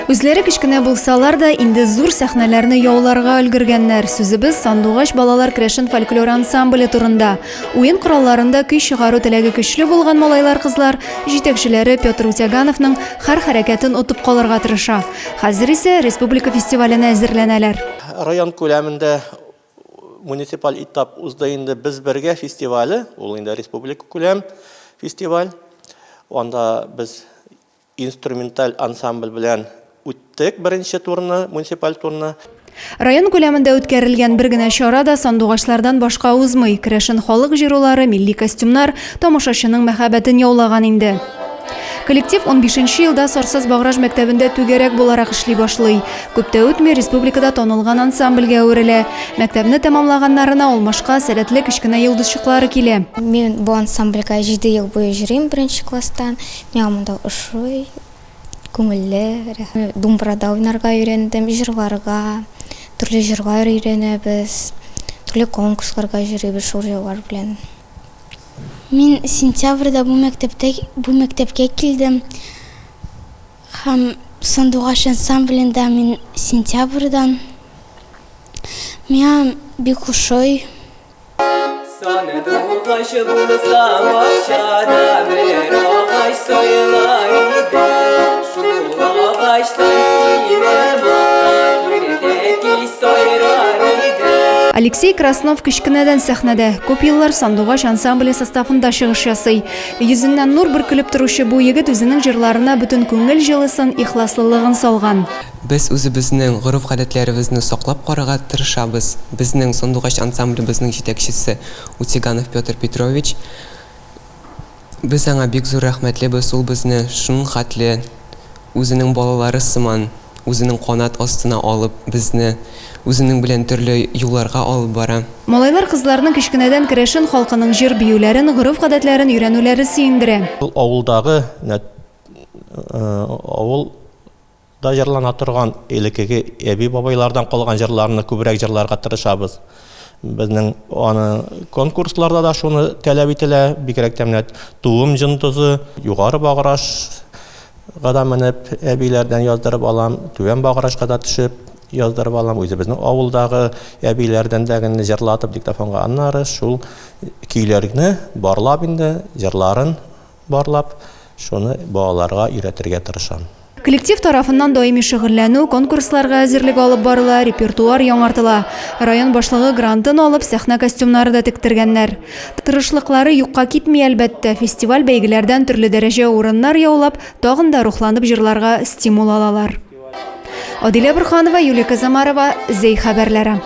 Үзләре кечкенә булсалар да, инде зур сәхнәләрне яуларга өлгергәннәр. Сүзебез Сандугач балалар крәшен фольклор ансамбле турында. Уен коралларында көй чыгару теләге көчле булган малайлар-кызлар җитәкчеләре Петр Утягановның хәр хәрәкәтен отып калырга тырыша. Хәзер исә республика фестиваленә әзерләнәләр. Район күләмендә муниципаль этап узды инде без бергә фестивале, ул инде республика күләм фестиваль. Анда без инструменталь ансамбль белән үттек беренче турны, муниципаль турны. Район күләмендә үткәрелгән бер генә чара да сандугачлардан башка узмый. Керәшен халык җырулары, милли костюмнар тамашачының мәхәббәтен яулаган инде. Коллектив унбишенче елда Сарсыз Баграж мәктәбендә түгәрәк буларак эшли башлый. Күп тә үтми, республикада танылган ансамбльгә әверелә. Мәктәпне тәмамлаганнарына ул машка, сәләтле кечкенә йолдызчыклары килә. Мин бу ансамбльгә җиде ел буе йөрим, беренче класстан. Миңа монда ошый, күңелле, рәхәт. Думбырада уйнарга өйрәндем, җырларга, төрле җырлар өйрәнәбез, төрле конкурсларга йөрибез шул җырлар белән. Мин сентябрьдә бу мәктәптә, бу мәктәпкә килдем. Һәм Сандугач ансамблендә мин сентябрьдан. Миңа бик ошый. Саны тугач булса бакчада бер агач сайла иде. Шул агачтан килеп Алексей Краснов кечкенәдән сәхнәдә, күп еллар Сандугач ансамбле составында чыгыш ясый. Йөзеннән нур бөркелеп торучы бу егет үзенең җырларына бөтен күңел җылысын, ихласлылыгын салган. Без үзебезнең гореф-гадәтләребезне саклап карарга тырышабыз, безнең Сандугач ансамблебызның җитәкчесе Утиганов Петр Петрович. Без аңа бик зур рәхмәтлебез, ул безне шунхатле. үзенең балалары сыман, үзенең канат астына алып, безне үзенең белән төрле юлларга алып бара. Малайлар кызларның кечкенәдән керәшен халкының җыр-биюләрен, гореф-гадәтләрен өйрәнүләре сөендерә. Ул авылдагы авыл да җырлана торган элекеге әби-бабайлардан калган җырларны күбрәк җырларга тырышабыз. Безнең аны конкурсларда да шуны таләп ителә, бигрәк тә менә Туым җындызы, Югары Баграш гада менеп әбиләрдән яздырып алам, Түбән Баграшка да төшеп яздырып алам, үзебезнең авылдагы әбиләрдән дә генә җырлатып диктофонга, аннары шул көйләрне барлап инде җырларын барлап, шуны балаларга өйрәтергә тырышам. Коллектив тарафыннан даими шөгыльләнү, конкурсларга әзерлек алып барыла, репертуар яңартыла. Район башлыгы грантын алып, сәхнә костюмнары да тектергәннәр. Тырышлыклары юкка китми, әлбәттә, фестиваль-бәйгеләрдән төрле дәрәҗә урыннар яулап, тагын да рухланып җырларга стимул алалар. Адилә Борһанова, Юлия Казамарова, Зәй хәбәрләре.